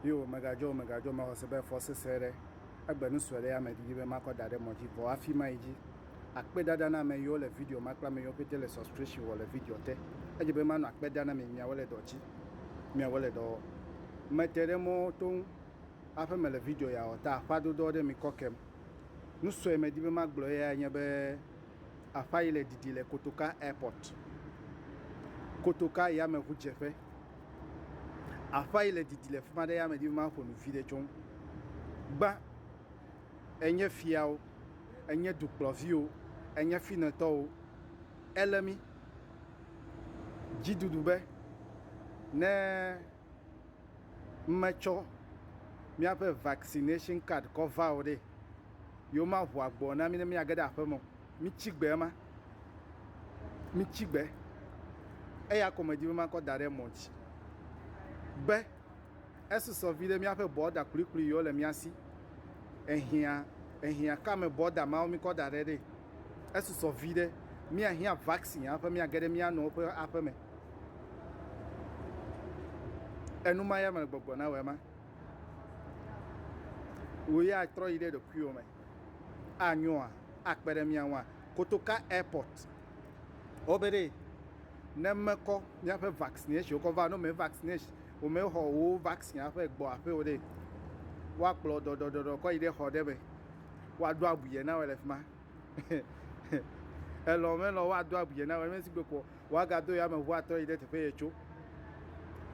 Yo, megadzɔ, megadzɔ, mexɔ se be fɔ sesẽ aɖe, egbe nu sue ɖe ya me didi be makɔ da ɖe mɔ dzi, vɔ hafi mayi dzi. Akpe dada na ame yiwo le video ma kple ame yiwo pete le subscription wɔ le video te. Edze be manɔ akpe da na mi miawo le dɔ dzi, miawo le dɔ wɔ. Mete ɖe mɔ to ŋu Aƒe mele video ya wɔ ta aƒa dodoɔ ɖe mi kɔ kem. Nu sue medi be magblɔ eyae nye be aƒa yi le didi le Kotoka Airport, Kotoka yameŋudzeƒe. Aƒa yi le didi le fima ɖe ya medi be maƒo nu viɖe tso ŋu. Gbã, enye fiawo, enye dukplɔviwo, enye finetɔwo, ele mi dzidudu be ne. metsɔ míaƒe vaccination card kɔ va o ɖe, yewomaʋu agboa na mí ne míage ɖe aƒeme o. Mitsi gbe ema. Mitsi gbe. Eya ko medi be makɔ da ɖe mɔ dzi be esusɔ viɖe míaƒe bɔda kplikpli yiwo le mía si. Ehiã, ehiã kame bɔda mawo mikɔ da ɖe ɖe. Esusɔ viɖe míahiã vaccine hafi míage ɖe mía nɔewo ƒe aƒeme. Enuma ya me gbɔgbɔ nawɔe ma. Wò ya atrɔ yi ɖe ɖokuiwò me anyoa? Akpe ɖe mía ŋua? Kotoka Airport, wobe ɖee, ne mekɔ míaƒe vaccination kɔ va, ne wome vaccination, womexɔ wò vaccine aƒe gbɔ aƒe o ɖe, woakplɔ dɔdɔdɔdɔ kɔ yi ɖe xɔ ɖe me, woaɖo abui yɛ nawɔe le fi ma. Elɔ̃ melɔ̃ woaɖo abui yɛ nawɔe, mesi gbe ko Woagado yameʋu atrɔ yi ɖe teƒe yetso.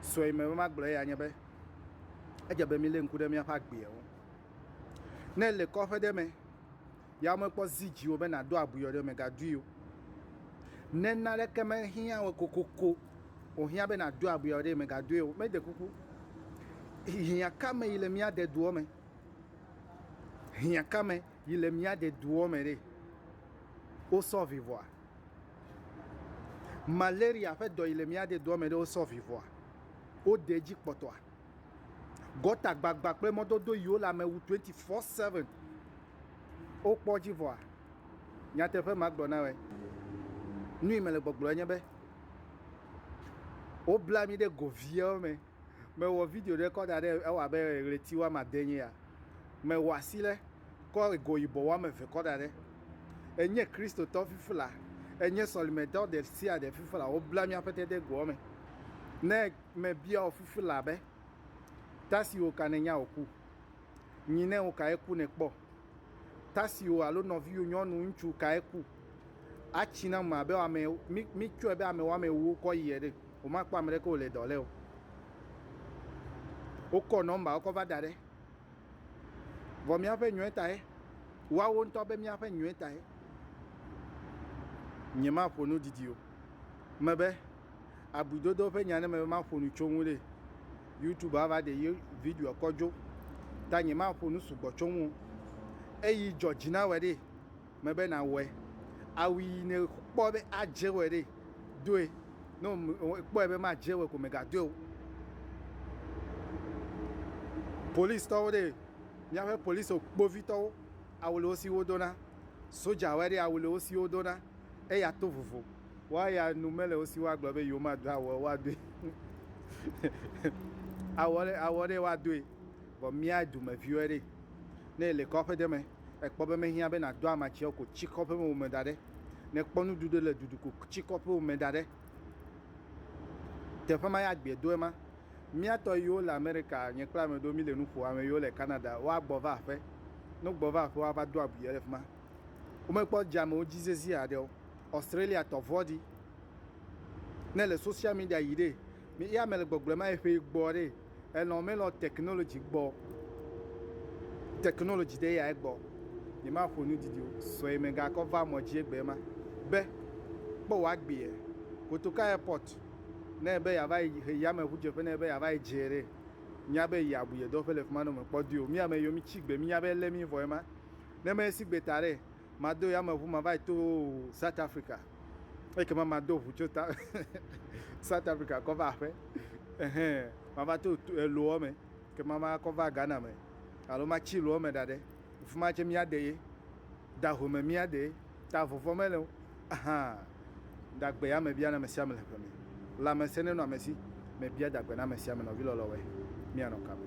Sue me be magblɔ eya nye be, edze be mílé ŋku ɖe míaƒe agbea ŋu. Ne èle kɔƒe ɖe me ya mekpɔ zi dziwò be nàdo abui o ɖe, mègadoe o. Ne naneke mehiã wò kokoko wòhiã be nàdo abui o ɖe, mègadoe o. Mede kuku, hiã ka me yi le mía de doɔ me? Hiã ka me yi le mía de doɔ me ɖe? Wosɔ vivɔa? Malaria ƒe dɔ yi le mía de doa me ɖe wosɔ vivɔa? Wode edzi kpɔtɔa? Gɔta gbagba kple mɔdodo yiwo le ame wu 24/7 wokpɔ edzi vɔa? Nyateƒe ma gblɔ na wɔ. Nu yi mele gbɔgblɔ enye be wobla mi ɖe go viawo me. Mewɔ video ɖe kɔ da ɖe ewɔ abe ɣleti woame ade nye ya. Mewɔ asi ɖe kɔ ego yibɔ woame eve kɔ da ɖe. Enye Kristotɔ fifla, enye sɔlimedɔ ɖe sia ɖe fifla. Wobla míaƒe te ɖe egoa me. Ne mebia wò fifla be, Ta si wò ka nènya wòku? Nyi ne wò ka ye ku nèkpɔ? tasiwò alo nɔviwò nyɔnu, ŋutsu kae ku? Atsi na ame abe ame, mí, mítsɔe be ame woame ewo kɔ yi ene. Womakpɔ ame ɖeke wòle dɔ lé o. Wokɔ nɔmbawo kɔ va da ɖe. Vɔ míaƒe nyɔe tae, woawo ŋutɔ be míaƒe nyɔe tae. Nyemaƒo nu didi o. Mebe, abuidodo ƒe nya ne me maƒo nu tso ŋu ɖe youtube ava ɖe ye video kɔ dzo ta nye maƒo nu sugbɔ tso ŋu eyi dzɔ dzi na wɔ ɖe me be na wɔe awu yi ne kpɔ be adze wɔ ɖe doe no kpɔe be madze wɔ ko me ga doe o police tɔwo ɖe míaƒe police kpovitɔwo awu le wo si wodona soja wɔ ɖe awu le wo si wodona eya to vovo Woa ya nu mele wo si woagblɔ be yewomado awɔ woadoe. awɔ ɖe awɔ ɖe woadoe. Vɔ mía dumeviwoe ɖe. Ne ele kɔƒe ɖe me, ekpɔ be mehiã be nàdo amatsiawo ko tsi kɔƒe me wome da ɖe. Ne ekpɔ nuɖuɖu ɖe le dudu ko tsi kɔƒe wome da ɖe. Teƒe ma ya gbie do ema. Mía tɔ yiwo le Amerika, nye kple ame ɖewo mi le nu ƒo, ame yiwo le Canada, woagbɔ va aƒe. Ne wogbɔ va aƒe woava do abui ɖe fi ma. Womekpɔ dzeamewo dzi sesĩe haɖe o. Australia tɔ vɔ di. Ne le social media yi ɖe, mi ya me le gbɔgblɔ ma eƒe gbɔ ɖe, elɔ melɔ technology gbɔ. Technology ɖe ya egbɔ. Ni ma ƒo nu didi sɔe me ga kɔ va mɔ dzi egbe ma. Be kpɔ wa gbe ye. Kotoka airport ne be ya va yi he ya me ʋu dze ƒe ne be ya va yi dze ɖe. Nya be ya bu ye dɔ ƒe le fima no me kpɔ di o. Mi ya me yo mi tsi gbe mi nya be ele mi vɔ ema. Ne me si gbe ta ɖe, Mado yameʋu mava yi to South Africa ekema mado ʋu tso ta South Africa kɔ va aƒe ehe mava to loɔ me kema ma kɔ va Ghana me alo ma tsi loɔ me ɖaɖe fima tse mia de ye da ʋu me mia de ye ta vɔvɔ me le aha da gbe yame bia na me sia me le ƒe me lame se ne nɔ amesi me bia da gbe na me sia me nɔvi lɔlɔ wɛ mia nɔ kame.